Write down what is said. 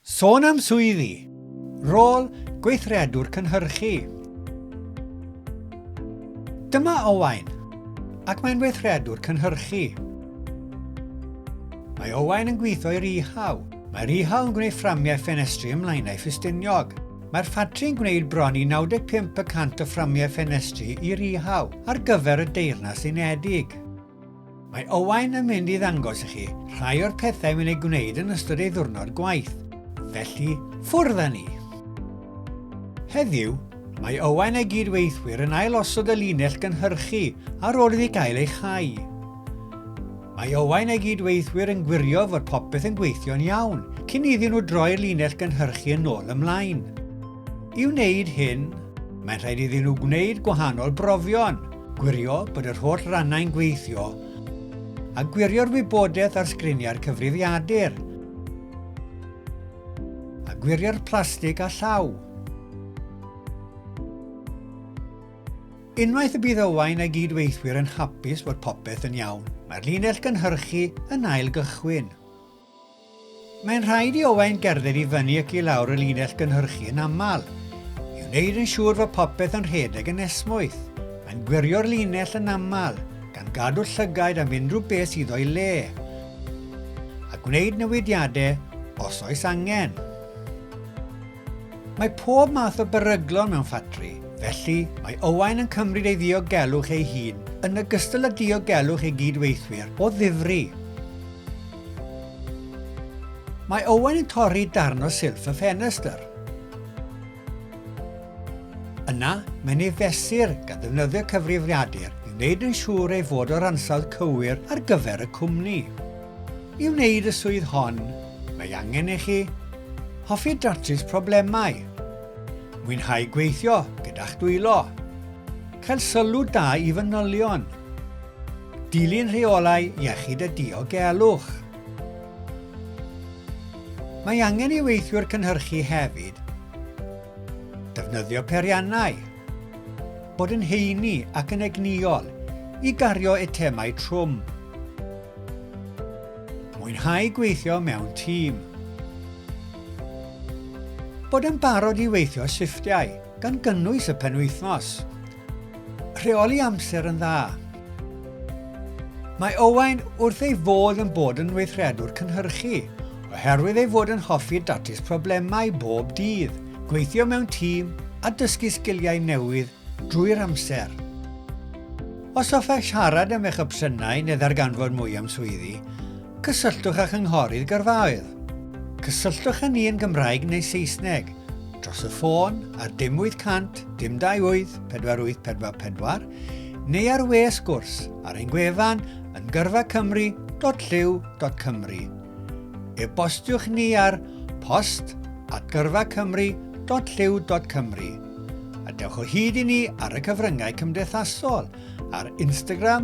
Sôn am swyddi. Rôl gweithredwr cynhyrchu. Dyma Owain, ac mae'n weithredwr cynhyrchu. Mae Owain yn gweithio i Rihau. Mae Rihau yn gwneud fframiau ffenestri ymlaenau ffustiniog. Mae'r ffatri'n gwneud bron i 95% o fframiau ffenestri i Rihau ar gyfer y Deyrnas Unedig. Mae Owain yn mynd i ddangos i chi rhai o'r pethau mae'n ei gwneud yn ystod ei ddwrnod gwaith, felly ffwrdd â ni! Heddiw, mae Owain a'i gyd-weithwyr yn ailosod y linell gynhyrchu ar ôl iddi gael ei chau. Mae Owain a'i gyd-weithwyr yn gwirio fod popeth yn gweithio'n iawn cyn iddyn nhw droi'r linell gynhyrchu yn ôl ymlaen. I wneud hyn, mae'n rhaid iddyn nhw gwneud gwahanol brofion, gwirio bod yr holl rannau'n gweithio, a gwirio'r wybodaeth ar sgriniau'r cyfrifiadur, a gwirio'r plastig a llaw. Unwaith y bydd Owain a'i gyd-weithwyr yn hapus fod popeth yn iawn, mae'r linell gynhyrchu yn ail gychwyn. Mae'n rhaid i Owain gerdded i fyny ac i lawr y linell gynhyrchu yn aml, i wneud yn siŵr fod popeth yn rhedeg yn esmwyth. Mae'n gwirio'r linell yn aml, gan gadw llygaid am unrhyw beth sydd o'i le, a gwneud newidiadau os oes angen. Mae pob math o beryglon mewn ffatri, felly mae Owain yn cymryd ei ddiogelwch ei hun yn ogystal â diogelwch ei gyd-weithwyr o ddifri. Mae Owen yn torri darn o silff y ffenestr. Yna, mae'n ei fesur gan ddefnyddio cyfrifiadur i wneud yn siŵr ei fod o'r ansawdd cywir ar gyfer y cwmni. I wneud y swydd hon, mae angen i chi hoffi datrys problemau, mwynhau gweithio gyda'ch dwylo, cael sylw da i fanylion, Dilyn rheolau iechyd a diogelwch. Mae angen i weithiwr cynhyrchu hefyd defnyddio periannau, bod yn heini ac yn egnïol i gario eitemau trwm. Mwynhau gweithio mewn tîm. Bod yn barod i weithio shifftiau, gan gynnwys y penwythnos, Rheoli amser yn dda. Mae Owain wrth ei fodd yn bod yn weithredwr cynhyrchu, oherwydd ei fod yn hoffi datrys problemau bob dydd, gweithio mewn tîm a dysgu sgiliau newydd drwy'r amser. Os hoffech siarad am eich opsiynau neu ddarganfod mwy am swyddi, Cysylltwch â Chynghorydd Gyrfaoedd. Cysylltwch â ni yn Gymraeg neu Saesneg, dros y ffôn ar dim 800 dim 28 4844 neu ar we sgwrs ar ein gwefan yn gyrfacymru.llyw.cymru. E-bostiwch ni ar post at gyrfacymru.llyw.cymru a dewch o hyd i ni ar y cyfryngau cymdeithasol ar Instagram,